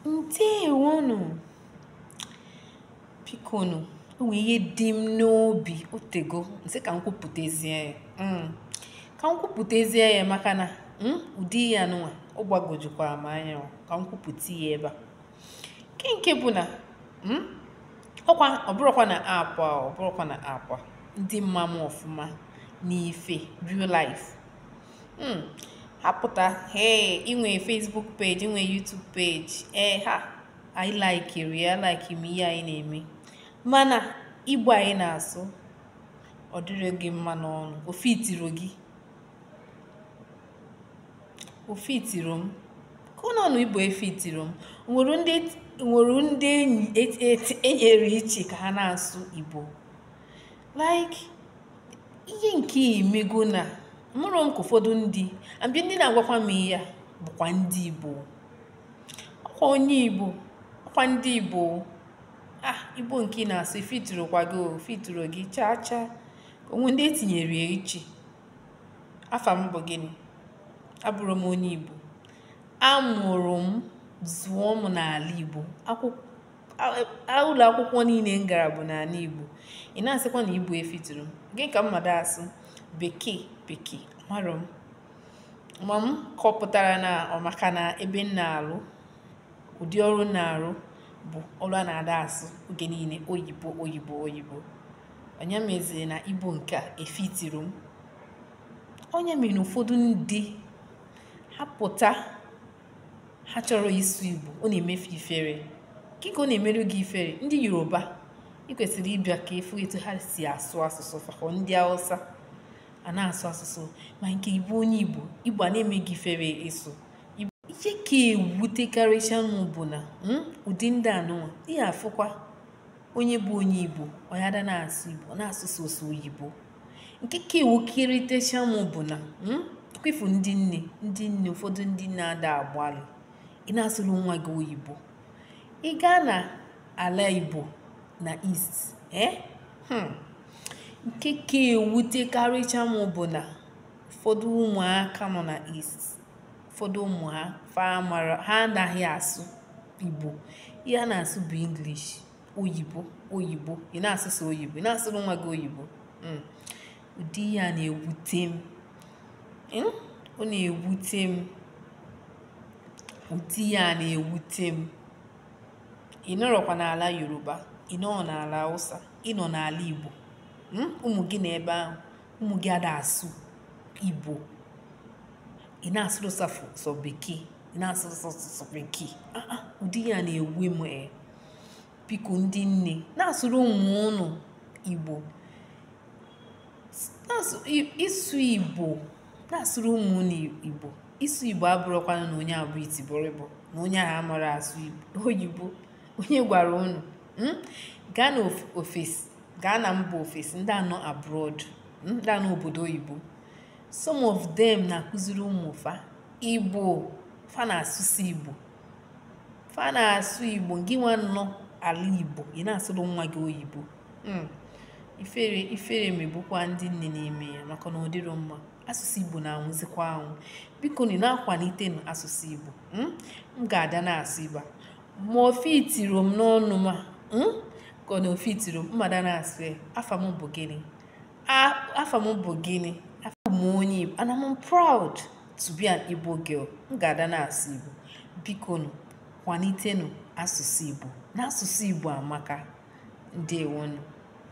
ndewonụ bikonu o nwee ihe dị m n'obi otego m sị ka m kwupụtazie ya mm. ka m kwupụtazie ya maka na mm, ụdị ya nụnwa ọ gbagojukwara m anya ka m kwupụta ya ebe a nke nke bụ na mm, ọkwa ọbụrụkwa na akwa ọbụrụkwa na akwa ndị ma m ọfụma n'ife real life Hmm, apụta ee i nwe Facebook page i nwe YouTube page ee ha anyị laikiri alaikiri m ihe anyị na-eme mana igbo anyị na-asụ ọ dịrọ gị mma n'ọnụ o fitirọ gị o fitirọ m ka ọ n'ọnụ igbo efitirọ m nwere ndị nwere ndị enyi e nyere iche ka ha na-asụ igbo like ihe nke imego na mụrụ m ka ụfọdụ ndị abịa ndị na-agwakwa m ihe a bụkwa ndị Igbo ọkwa onye Igbo ọkwa ndị Igbo ah Igbo nke ị na-asụ efitirọkwa gị o fitirọ gị chaa chaa o nwe ndị e tinyere ya iche afa m bụ gịnị abụrụ m onye Igbo amụrụ m zụọ m n'ala Igbo akwụkwọ ụlọ akwụkwọ niile m gara bụ n'ala Igbo ị na-asịkwa na igbo efitirọ m gịnị ka m ma-ada asụ bekee bekee amarọ m ma m kọpụtara na ọ maka na ebe m na-alụ ụdị ọrụ m na-arụ bụ ọrụ a na-ada asụ oge niile oyibo oyibo oyibo ọ ya meziri na igbo nke a efitirọ m ọ ya mere na ụfọdụ ndị ha pụta ha chọrọ ịsụ igbo ọ na-eme fa ifere kee ka ọ na-emerụ gị ifere ndị yoruba ị kwesịrị ịbịa ka ị fụ etu ha si asụ asụsụ fa kọ ndị hausa a na-asụ asụsụ ma nke igbo onye igbo igbo a na-eme gị ifere ịsụ ihe ka ewutekarịcha m bụ na hmm, ụdị ndị a nụnwa ị ya-afụkwa onye bụ onye igbo ọ ya ada na-asụ igbo ọ na-asụ sọsọ oyibo nke ka ewukarịtecha m bụ na hmm, ka ị fụ ndị nne ndị nne ụfọdụ ndị na-ada agbalị ị na-asụrụ nwa gị oyibo ị gaa na ala igbo na east eh? hmm. nke ka ewutekarịcha m bụ na ụfọdụ ụmụaka nọ na east ụfọdụ ụmụ ha ha anaghị asụ igbo ihe a na-asụ bụ english oyibo oyibo ị na-asụ sọ oyibo ị na-asụrụ nwa gị oyibo hmm. ụdị ya na-ewute m hmm? ọ na-ewute m ụdị ya na-ewute m ị nọrọkwa n'ala yoruba ị nọ n'ala hausa ị nọ n'ala igbo hmm? ụmụ gị n'ebe ahụ ụmụ gị ada asụ igbo ị na-asụrụ fa sọ bekee ị na-asụrụ sọ bekee ah, ah, ụdị ya na-ewe m ee eh. biko ndị nne na-asụrụ ụmụ unu igbo ịsụ igbo na-asụrụ ụmụ unu igbo ịsụ igbo abụrọkwanụ na onye a bụ itibọrịbọ na onye ahụ amarọ asụ oyibo onye gwara unu hmm? gaa na ofesi gaa na mba ofesi ndị a nọ abroad hmm? ndị a nọ obodo oyibo some of them na-akụziri ụmụ fa igbo fa na-asụsụ igbo fa na-asụ igbo gị nwa nọ ala igbo ị na-asụrụ nwa gị oyibo hmm. ifere ifere megbukwa ndị nne na-eme ya maka na ọ dịrọ mma asụsụ igbo na-anwụzikwa anwụ bikonu na-akwalitenu asụsụ igbo hmm. m ga-ada na-asụ igbo ma o fitiro m n'ọnụ ma hmm. ka na o fitiro m m ga-ada na-asụ ya afa m bụ gịnị afa m bụ gịnị abụ m onye igbo and I'm proud to be an Igbo girl m ga-ada na-asụ Igbo bikonu kwalitenu asụsụ Igbo na asụsụ Igbo amaka ndewonu